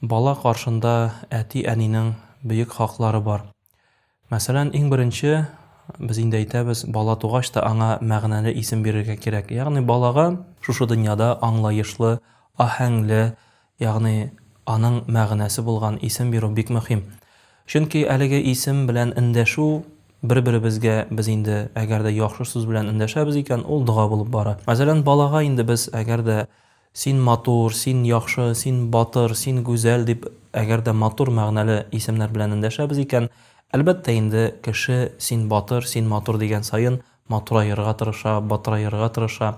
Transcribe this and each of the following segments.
Бала каршында әти-әнинең бөек хаклары бар. Мәсәлән, иң беренче, без инде әйтәбез, бала тугач та аңа мәгънәле исем бирергә кирәк. Ягъни балага шушы дөньяда аңлаешлы, аһәңле, ягъни аның мәгънәсе булган исем бирү бик мөһим. Чөнки әлеге исем белән эндәшү бер-беребезгә без инде әгәр дә яхшы сүз белән эндәшәбез икән, ул дога булып бара. Мәсәлән, балага инде без әгәр дә Син матур, син яхшы, син батыр, син гүзәл дип әгәр дә матур мәгънәле исемнәр белән эндәшәбез икән, әлбәттә инде, кеше син батыр, син матур дигән саен матураерга тырыша, батыраерга тырыша.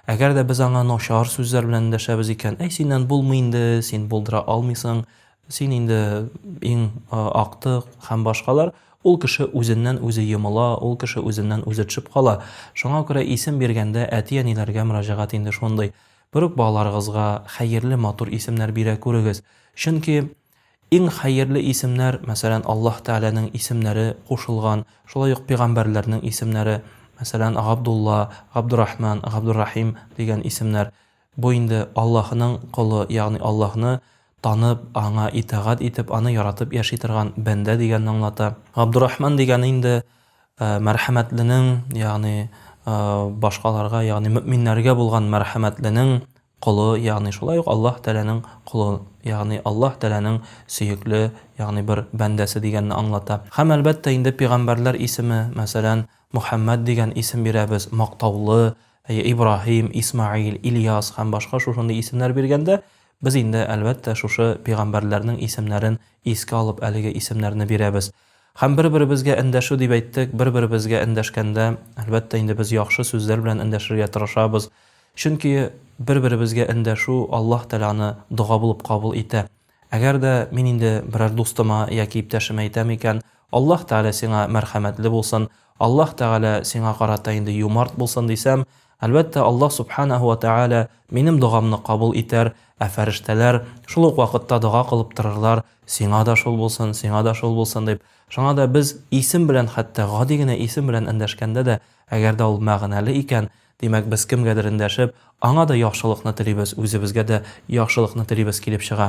Әгәр дә без аңа начар сүзләр белән эндәшәбез икән, әй синнән булмый инде, син булдыра алмыйсың, Син инде иң актык һәм башкалар. Ул кеше үзеннән үзе йомыла, ул кеше үзеннән үзе төшеп кала. Шуңа күрә исем биргәндә әти-әниләргә мөрәҗәгать инде шундый. Бер үк балаларыгызга хәерле, матур исемнәр бирә күрегез. Чөнки иң хәерле исемнәр, мәсәлән, Аллаһ Тәгаләнең исемнәре кушылган, шулай ук пигамбәрләрнең исемнәре, мәсәлән, Габдулла, Габдурахман, Габдуррахим дигән исемнәр. Бу инде Аллаһының колы, ягъни Аллаһны танып, Аңа итагать итеп, Аны яратып яши торган бәндә дигәнне аңлата. Габдурахман дигәне инде Мәрхәмәтленең, ягъни башкаларга, ягъни мөэминнәргә булган Мәрхәмәтленең колы, ягъни шулай ук Аллаһ Тәгаләнең колы, ягъни Аллаһ Тәгаләнең сөекле, ягъни бер бәндәсе дигәнне аңлата. Һәм, әлбәттә, инде пигамбәрләр исеме, мәсәлән, Мөхәммәд дигән исем бирәбез, мактаулы, Әйе, Ибраһим, Исмәгыйль, Ильяс һәм башка шушындый исемнәр биргәндә, без инде, әлбәттә, шушы пигамбәрләрнең исемнәрен искә алып әлеге исемнәрне бирәбез. Һәм бер-беребезгә эндәшү дип әйттек, бер-беребезгә эндәшкәндә, әлбәттә инде, без яхшы сүзләр белән эндәшергә тырышабыз. Чөнки бер-беребезгә эндәшү Аллаһ Тәгалә аны дога булып кабул итә. Әгәр дә мин инде берәр дустыма яки иптәшемә әйтәм икән, Аллаһ Тәгалә сиңа мәрхәмәтле булсын, Аллаһ Тәгалә сиңа карата инде юмарт булсын, дисәм, әлбәттә, Аллаһ Сүбхәнәһү вә Тәгалә минем догамны кабул итәр, ә фәрештәләр шул ук вакытта дога кылып торырлар, Сиңа да шул булсын, сиңа да шул булсын, дип. Шуңа да без исем белән хәтта, гади генә исем белән эндәшкәндә дә, әгәр дә ул мәгънәле икән, димәк, без кемгәдер эндәшеп, аңа да яхшылыкны телибез, үзебезгә дә яхшылыкны телибез килеп чыга.